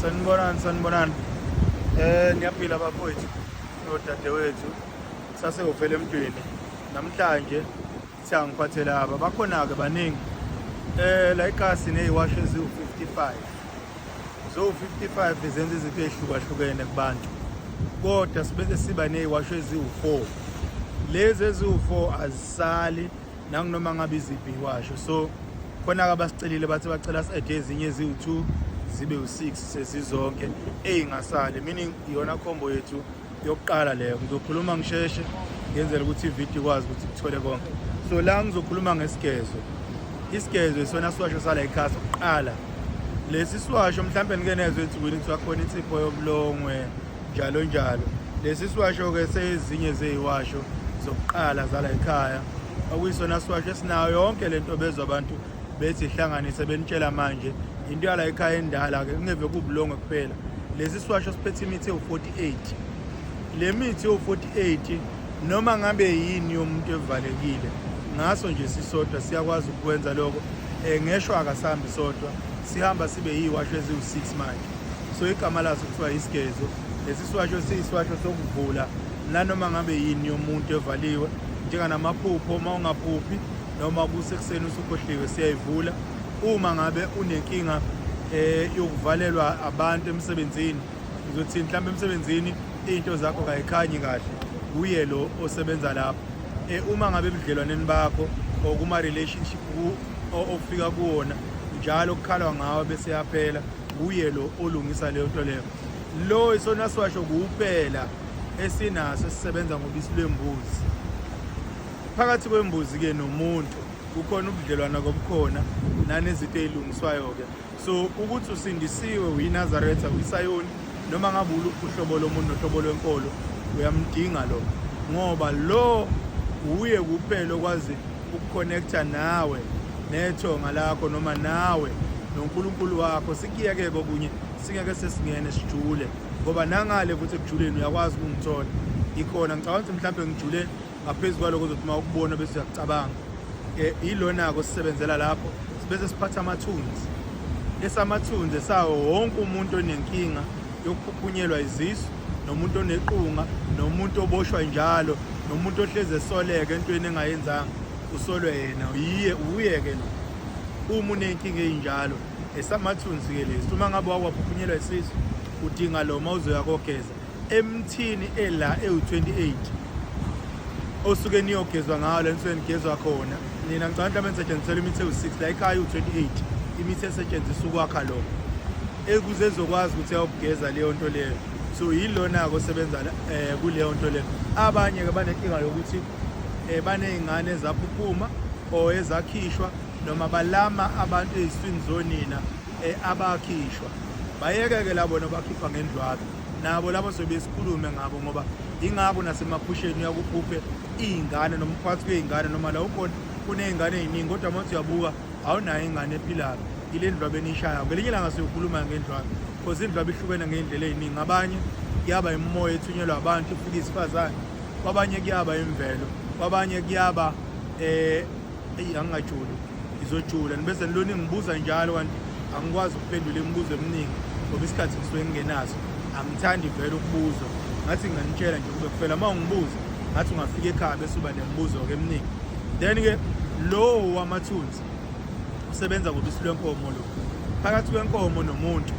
sanibonani sanibonani eh niyaphila bafowethu nodadewethu sasewufele emntwini namhlanje siyangiphathela aba bakhona-ke baningi eh la ikasi neyiwasho eziwu-55 zo-55 zenza izinto ey'hlukahlukene kubantu kodwa sibe siba neyiwasho eziwu-4 lezi eziwu-4 azisali nanginoma ngabe iziphi iwasho so khona-ke abasicelile bathi bacela si-ede ezinye eziwu-two zibe u-six sezizonke eyingasali meaning iyona khombo yethu yokuqala leyo ngizokhuluma ngisheshe ngenzela ukuthi ividiyo ikwazi ukuthi kuthole konke so la ngizokhuluma ngesigezo isigezo isona siwasho sala ikhasi kuqala lesi siwasho mhlawumbe nike nezwe ethi wini kuthiwa khona insipho yobulongwe njalo njalo lesi siwasho-ke sezinye zeyiwasho zokuqala zala ekhaya okuyisona siwasho esinayo yonke le nto bezwa abantu bethi ihlanganise benitshela manje into yala ekhaya endala-ke kungeve kubulongwe kuphela lesi siwasho siphethe imithi ewu-48 le mithi ewu-48 noma ngabe yini yomuntu evalekile ngaso nje sisodwa siyakwazi ukwenza lokho um ngeshwa akasambi sodwa sihamba sibe yiwasho eziwu-6 manje so igama laso kuthiwa isigezo lesi siwasho siyisiwasho sokuvula nanoma ngabe yini yomuntu evaliwe njenganamaphupho uma ungaphuphi noma kusekuseni usukhohliwe siyayivula uma ngabe unenkinga eh yokuvalelwa abantu emsebenzini uzothi mhlawumbe emsebenzini izinto zakho kayikhanyi kahle kuye lo osebenza lapho eh uma ngabe ebudlelwaneni bakho okuma relationship ofika kuwona njalo kukhalwa ngawe bese yaphela kuye lo olungisa leyo nto leyo lo isona siwasho kuwuphela esinaso esisebenza ngobisi lwembuzi phakathi kwembuzi-ke nomuntu kukhona ubudlelwana kobukhona nanezinto ey'lungiswayo-ke so ukuthi usindisiwe uyinazaretha uyisayoni noma ngabe uluphi uhlobo lomuntu nohlobo lwenkolo uyamdinga lo ngoba lo wuye kuphela okwazi ukuconnecta nawe nethonga lakho noma nawe nonkulunkulu wakho sikiyeke kokunye singeke sesingene sijule ngoba nangale futhi ekujuleni uyakwazi ukungithola ikhona ngicabanga ukuthi mhlawumbe ngijule ngaphezu kwaloko zothi uma ukubona bese uyacabanga eh, yilona-ko sisebenzela lapho sibese siphatha amathunzi esamathunzi esawo wonke umuntu onenkinga yokuphuphunyelwa izisu nomuntu onequnga nomuntu oboshwa njalo nomuntu ohlezi esoleke entweni engayenzanga usolwe yena yiye uye-ke lo uma unenkinga eyinjalo esamathunzi-ke lesi uma ngabe wakwaphunyelwa isisu udinga lo uma uzoya kogeza emthini ela ewu-28 osuke niyogezwa ngawo le nsuke nigezwa khona nina ngicabanga mhlawumbe nisetshenzisela imithi ewu-6 la ikhaya iwu-28 imithi esetshenziswa ukwakha lokho ekuze ezokwazi ukuthi ayokugeza leyo nto leyo so yilona-ke osebenza um kuleyo nto leyo abanye-ke banenkinga yokuthi um baney'ngane ezaphuphuma or ezakhishwa noma balama abantu ey'swini zonina eh, abakhishwa bayeke-ke labo nobakhipha ngendlwabe nabo labo sebesikhulume ngabo ngoba ingako nasemaphusheni uyakuphuphe iy'ngane nomkhwathi kwey'ngane noma la ukhona kuney'ngane ey'ningi kodwa uma uthi uyabuka awunayo ingane ephilayo ile ndlwabe eniyishayo ngelinye ilanga siyokhuluma ngendlwabe because indlwabe ihlukene ngey'ndlela ey'ningi abanye kuyaba imimoya ethunyelwa abantu ifika isifazane kwabanye kuyaba imvelo kwabanye kuyaba um eyi angingajuli ngizojula nibese nilona ngibuza njalo kanti angikwazi ukuphendula imibuzo eminingi ngoba isikhathi ngisuke ngingenaso angithandi vele ukubuzwa ngathi nginganitshela nje kube kufela uma ungibuza ngathi ungafika ekhaya bese uba nemibuzo-ke eminingi then-ke lowo wamathunzi usebenza ngobisi lwenkomo lo phakathi kwenkomo nomuntu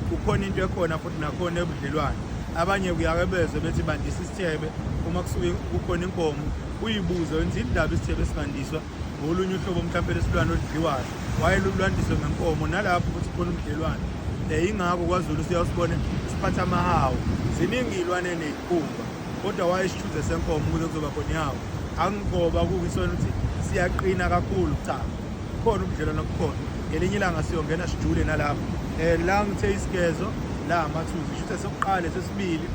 kukhona into ekhona futhi nakhona ebudlelwane abanye kuyake bezwe bethi bandisa isithebe uma kusuke kukhona inkomo uyibuze wenza indaba isithebe esingandiswa ngolunye uhlobo mhlawumpe lesilwane oludliwayo wayelulwandiswe ngenkomo nalapho ukuthi khona umdelwane um eh, ingakho kwazulu siyawusibone siphatha amahawu ziningi iy'lwane ney'khumba kodwa wayesithuze senkomo ukuze kuzoba khona ihawu angigoba kuwisona ukuthi siyaqina kakhulu cha khona ubudlelwane obukhona ngelinye ilanga siyongena sijule nalapho um la ngithe isigezo la amathuzi shuthe sokuqale sesibili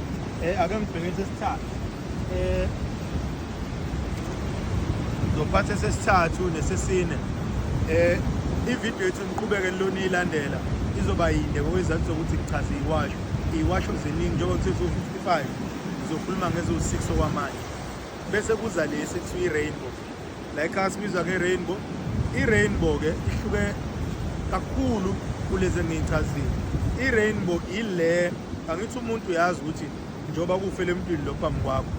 um ake ngibheke sesithathu Eh, zophatha esesithathu nesesine eh ivideo yethu niqhubeke nilona ilandela izoba yinde ngokwezathu zokuthi ngichaze iwasho iwasho ziningi njengoba kuthe 55 ngizokhuluma ngezo-6 okwamanje bese kuza lesi kuthiwa i-rainbow la ekhaya sibizwa nge-rainbow i-rainbow-ke ihluke kakhulu kulezi engiyichazile i-rainbow ile angithi umuntu uyazi ukuthi njengoba kufele emntwini lo phambi kwakho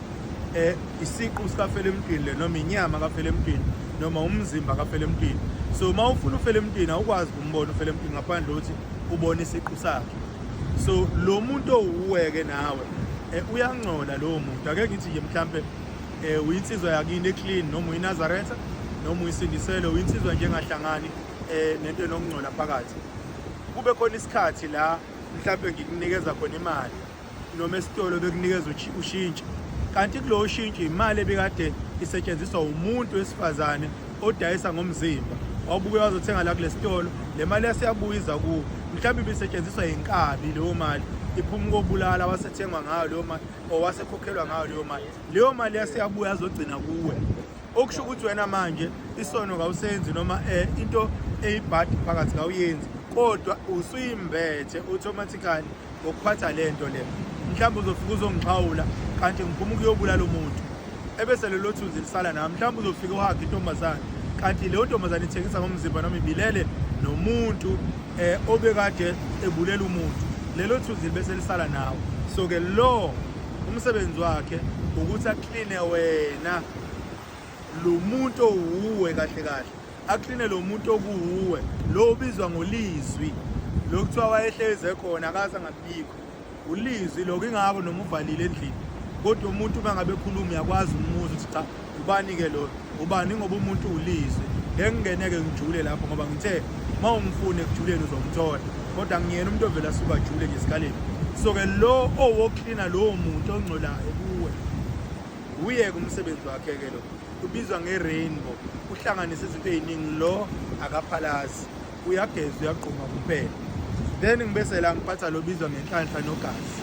eh isiqu sikafele emntwini le noma inyama kafele emntwini noma umzimba kafele emntwini so uma ufuna ufele emntwini awukwazi kumbona ufele emntwini ngaphandle ukuthi ubone isiqu sakhe so lo muntu owuweke nawe eh, uyangcola lowo muntu ake ngithi nje mhlampe eh, uyinsizwa yakini eclean noma uyinazaretha noma uyisindisele uyinsizwa njengahlangani eh, nento enokungcola phakathi kube khona isikhathi la mhlawumbe ngikunikeza khona imali noma esitolo bekunikeza ushintshi kanti kulowo shintshi imali ebikade isetshenziswa umuntu wesifazane odayisa ngomzimba wawubuke wazothenga la kule sitolo le mali yasiyabuyiza kuwo mhlawumbe ibisetshenziswa yinkabi leyo mali iphuma ukobulala wasethengwa ngayo leyo mali or wasekhokhelwa ngayo leyo mali leyo mali yasiyabuya azogcina kuwe okusho ukuthi wena manje isono kawusenzi noma eh into eyibhadi phakathi kawuyenzi kodwa usuyimbethe automatically ngokuphatha le nto le mhlawumbe uzofika uzongixhawula kanti ngiphuma ukuyobulala umuntu ebese lelo thunzi lisala nami mhlawumbe uzofika uhage intombazane kanti leyo ntombazane ithengisa ngomzimba noma ibilele nomuntu um obekade ebulela umuntu lelo thunzi bese lisala nawo so-ke lo umsebenzi wakhe ukuthi akline wena lo muntu owuwe kahle kahle akline lo muntu okuwuwe lo ubizwa ngolizwi lo kuthiwa wayehleze khona akaze angabikho ulizwi lokho ingako noma uvalile endlini kodwa umuntu uma ngabe ekhuluma uyakwazi umuzwa ukuthi cha ubani ke lo ubani ngoba umuntu ulizwe ngeke ngingeneke ngijule lapho ngoba ngithe uma umfune ekujuleni uzomthola kodwa ngiyena umuntu ovele asuka ajule nje esikaleni so-ke lo owoklina lowo muntu ongcolayo kuwe wuye-ke umsebenzi wakhe-ke lo ubizwa nge-rainbow uhlanganise izinto ey'ningi lo akaphalazi uyageza uyagquma kuphela then ngibese la ngiphatha lobizwa ngenhlanhla nogazi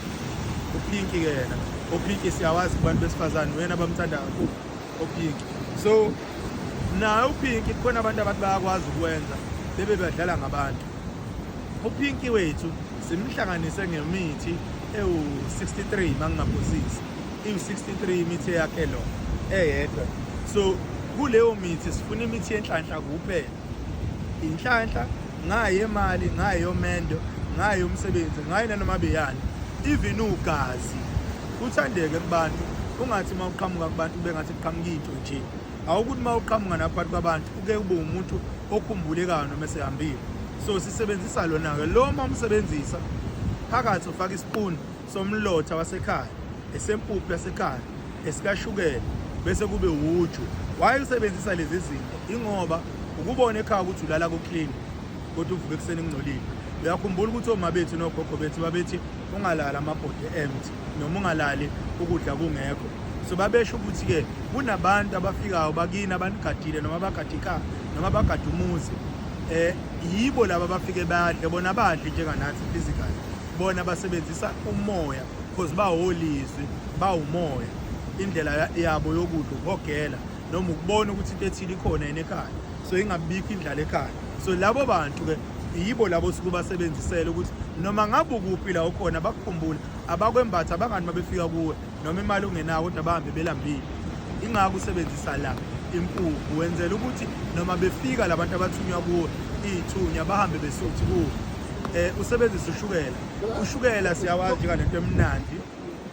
uphinki ke yena ophinki siyawazi kubantu besifazane wena bamthanda kakhulu ophinki so naye uphinki kukhona abantu abathi bayakwazi ukwenza bebe badlala ngabantu uphinki wethu simhlanganise ngemithi ewu-63 uma ngingaphosisi iwu-63 imithi eyakhe lo eyedwa so kuleyo mithi sifuna imithi yenhlanhla kuphela inhlanhla ngayo imali ngayo yomendo ngayo umsebenzi ngayo nanoma beyani even ugazi uthandeke kubantu ungathi uma uqhamuka kubantu kube ngathi kuqhamuka into nje awukuthi uma uqhamuka naphakathi kwabantu uke ube umuntu okhumbulekayo noma esehambile so sisebenzisa lona-ke lo uma umsebenzisa phakathi ufaka isipuni somlotha wasekhaya esempuphu yasekhaya esikashukela bese kube wuju waye usebenzisa lezi zinto ingoba ukubona ekhaya ukuthi ulala kuclean kodwa uvuke ekuseni ngcolile uyakhumbula ukuthi oma bethu nogogo bethu babethi ungalali amabhodi empty noma ungalali ukudla kungekho so babesho ukuthi-ke kunabantu abafikayo bakini abanigadile noma bagade ikhaya noma bagade umuzi um yibo laba bafike badle bona badle njenganathi physically bona basebenzisa umoya because bawolizwi bawumoya indlela yabo yokudla ukuhogela noma ukubona ukuthi into ethile ikhona yena ekhaya so ingabikho indlala ekhaya so labo bantu ke yibo labo suke basebenzisele ukuthi noma ngabe ukuphi la ukhona bakukhumbule abakwembatha abangani mabefika kuwe noma imali ungenayo kodwa bahambe belambile ingakho usebenzisa la impuphu wenzela ukuthi noma befika labantu abathunywa kuwo iy'thunya bahambe besuthi kuwo um usebenzise ushukela ushukela siyawazi njengalento emnandi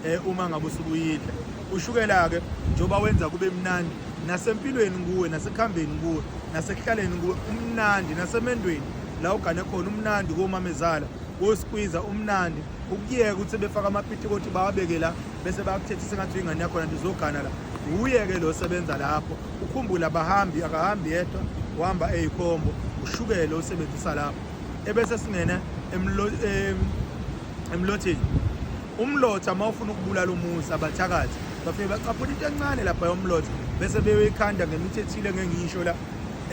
um uma ngabe usukuyidla ushukela-ke njengoba wenza kube mnandi nasempilweni kuwe nasekuhambeni kuwe nasekuhlaleni kuwe umnandi nasemendweni la ugane khona umnandi komamezala wosikwiza umnandi ukuyeka ukuthi befaka amapiti ukuthi bawabeke la bese bakuthethisa ngathi ingane yakho nanto uzogana la uyeke lo sebenza lapho ukhumbula abahambi akahambi yedwa uhamba eyikhombo ushukele usebenzisa lapho ebese singena emlotheni umlotha uma ufuna ukubulala umusa abathakathi bafike bacaphula into encane lapha yomlotha bese beyoyikhanda ngemithi ethile ngengisho la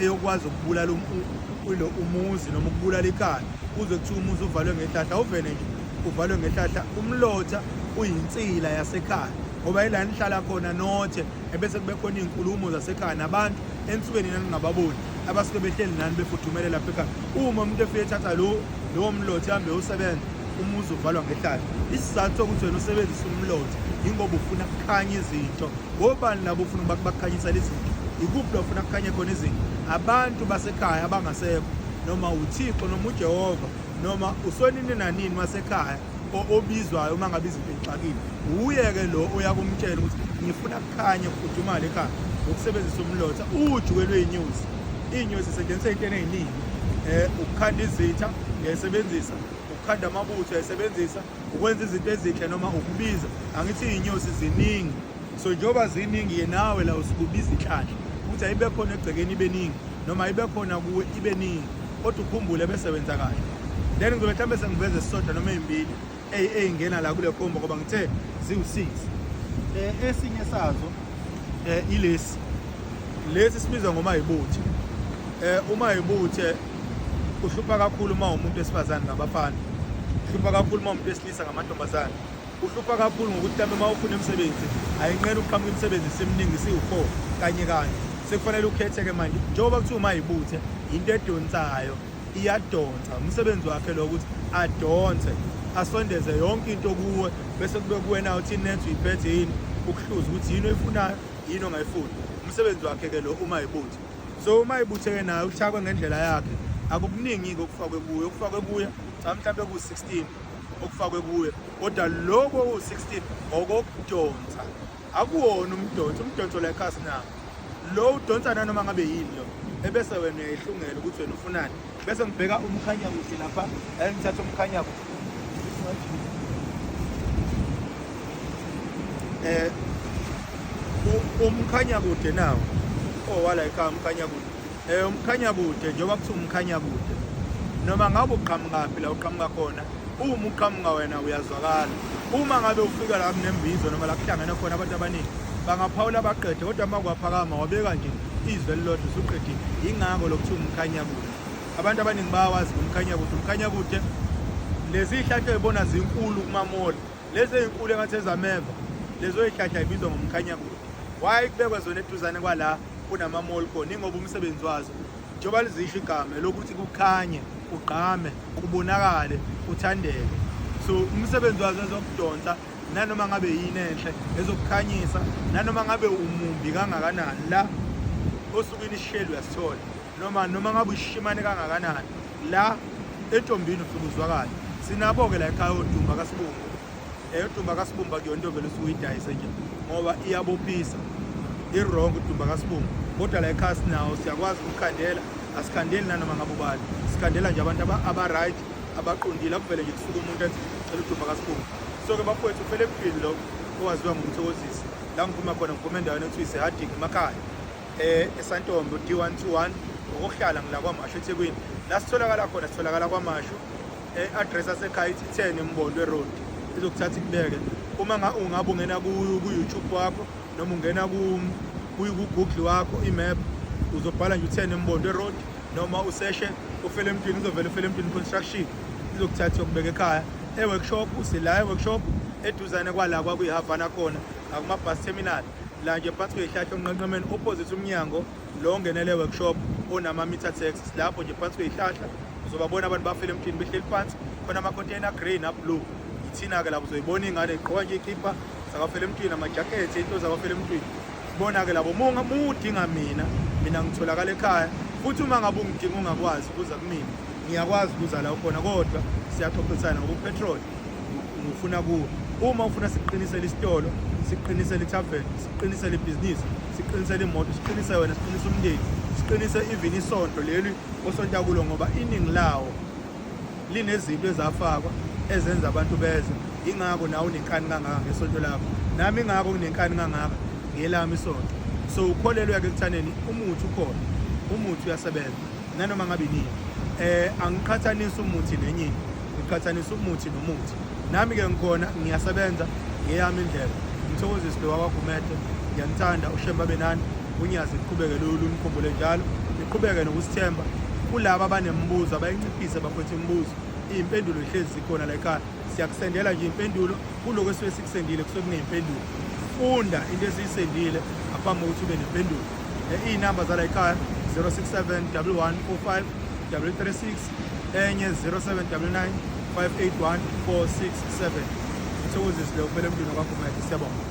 eyokwazi ukubulala um, umuzi noma ukubulala ikhaya kuze kuthiwa umuzi uvalwe ngehlahla uvele nje uvalwe ngehlahla umlotha uyinsila yasekhaya ngoba yila nihlala khona nothe ebese kube khona iy'nkulumo zasekhaya nabantu ensuke nina ningababoni abasuke behleli nani befudumele lapha ekhaya uma umuntu efike ethatha lowo mlotha ahambe usebenza umuzi uvalwa ngehlala isizathu sokuthi wena usebenzisa umlotha yingoba ufuna kukhanya izinto ngobani labo ufuna ukuba kubakhanyisela izinto ikuphi lofuna kukhanye khona izinto abantu basekhaya abangasekho noma uthixo noma ujehova noma usonini nanini wasekhaya obizwayo uma ngabe izinto ixakile wuye-ke lo oyakumtshela ukuthi ngifuna kukhanye kufudumale ekhaya ngokusebenzisa umlotha uju kwelweyinyosi iy'nyosi isetshenziswa into eneyiningi um eh, ukukhanda izitha ngiyayisebenzisa ukukhanda amabutho esebenzisa ukwenza izinto ezinhle noma ukubiza angithi iy'nyosi ziningi so njengoba ziningi ye nawe la usikubiza inhlanhla ukuthi ayibe khona egcekeni ibe ningi noma ibe khona kuwe ibe ningi kodwa ukhumbule bese wenza kahle then ngizobe mhlawumbe sengiveza esisodwa noma ey'mbili ey'ngena la kule kombo ngoba ngithe ziwu-six um esinye sazo um ilesi lesi sibizwa ngomayibuthe um umayibuthe uhlupha kakhulu uma umuntu esifazane ngabafana uhlupha kakhulu uma umuntu esilisa ngamantombazane uhlupha kakhulu ngokuthi mhlawumbe uma ufuna imisebenzi ayinqena ukuqhamuka imisebenzi seminingi siwu-four kanye kanye sekufanele ukhethe-ke manje njengoba kuthiwa uma yibuthe yinto edonsayo iyadonsa umsebenzi wakhe lo ukuthi adonse asondeze yonke into kuwe bese kube kuwena uthi inetho uyiphethe yini ukuhluza ukuthi yini oyifunayo yini ongayifuni umsebenzi wakhe-ke lo uma yibuthe so uma ibutheke nayo uthakwe ngendlela yakhe akukuningi-ke okufakwe kuye okufakwe kuye cha mhlawumbe kuwu-16 okufakwe kuye kodwa loko owu-16 okokudonsa akuwona umdonso umdonso la ekhasi na lo udonsa nanoma ngabe yini lo ebese wena uyayihlungela ukuthi wena ufunani bese ngibheka umkhanya kuhle lapha and ngithatha umkhanya eh umkhanya kude nawo owala oh, ekhaya umkhanya kude eh umkhanya kude njengoba kuthiwa umkhanya kude noma ngabe uqhamukaphi la uqhamuka khona uma uqhamuka wena uyazwakala uma ngabe ufika la kunembizo noma la kuhlangene khona abantu abaningi bangaphawula baqede kodwa uma kwaphakama wabeka nje izwe elilodwa usuqedile yingakho lokuthiwa umkhanyakude abantu abaningi bayawazi umkhanyakude umkhanyakude lezi hlahla ezibona zinkulu kumamoli lezi ezinkulu engathi ezameva lezo hlahla ibizwa ngomkhanyakude why kubekwa zona eduzane kwala kunamamoli khona ingoba umsebenzi wazo njengoba lizisho igama lokuthi kukhanye kugqame kubonakale kuthandeke so umsebenzi wazo ezokudonsa nanoma ngabe yini enhle ezokukhanyisa nanoma ngabe umumbi kangakanani la osukwini isisheli uyasithola noma noma ngabe ushimane kangakanani la entombini ufike uzwakale sinabo-ke la ekhaya odumba kasibumba eyodumba eh, kasibumba kuyona into vele usuke uyidayise nje ngoba iyabophisa i-wrong udumba kasibumba kodwa la ekhaya sinawo siyakwazi ukukhandela asikhandeli nanoma ngabe ubani sikhandela nje abantu aba-right abaqondile akuvele nje kusuke umuntu ethi cela udumba kasibumba so-ke bafowethu kufele kuphili lo owaziwa ngomthokozisi la ngiphuma khona ngiphuma endaweni okuthiwa isehading emakhaya eh esantombo d121 ngokuhlala ngila kwamasho ethekwini la sitholakala khona sitholakala kwamasho e-address asekhaya ithi 10 embondwe road izokuthatha ikubeke uma ungabe ungena ku-youtube wakho noma ungena ku-google wakho imap uzobhala nje u-10 embondwe road noma useshe ufele emntwini uzovela ufele emntwini construction izokuthatha yokubeka ekhaya e-workshop usila e-workshop eduzane kwala kwakuyihavana khona akumabus terminal la nje phansi kweyihlahla onqenqemeni opposite umnyango lo ongenele workshop onama-meter tax lapho nje phansi kweyihlahla uzobabona abantu bafele emthini behleli phansi khona ama-container green ablue yithina-ke lapho uzoyibona ingane igqoka nje ikhipha zakafele emthini amajakhethi into zakafele emthini bona ke labo uma udinga mina mina ngitholakala ekhaya futhi uma ngabe ungidinga ungakwazi ukuza kumina ngiyakwazi ukuza la ukhona kodwa siyaxoxisana ngoba upetrol ngifuna kuwo uma ufuna siqinisele isitolo siqinisele itavern siqinisele ibhizinisi siqinisele imoto siqinise wena siqinise umndeni siqinise even isonto leli osonta kulo ngoba iningi lawo linezinto ezafakwa ezenza abantu beze ingakho nawe unenkani kangaka ngesonto lakho nami ingakho kunenkani kangaka ngelami isonto so ukholelwe-ke ekuthaneni umuthi ukhona umuthi uyasebenza nanoma ngabe nini eh angiqhathanisa umuthi nenye ngiqhathanisa umuthi nomuthi nami ke ngikhona ngiyasebenza ngeyami indlela ngithokoziswe wawagumede ngiyanithanda ushemba benani UNyazi liqhubeke lumkhumbule njalo, liqhubeke nokusithemba kulaba abanemibuzo abayinciphise bafethu imibuzo iy'mpendulo zihlezi zikhona la ekhaya siyakusendela nje impendulo kuloko esuke sikusendile kusuke kuney'mpendulo funda into esiyisendile ngaphambi kokuthi ube nempendulo iy'namba zala ekhaya 067 11 45 336 enye 0799 581 467 thokozisile ufele emntwini wakho mayeke siyabonga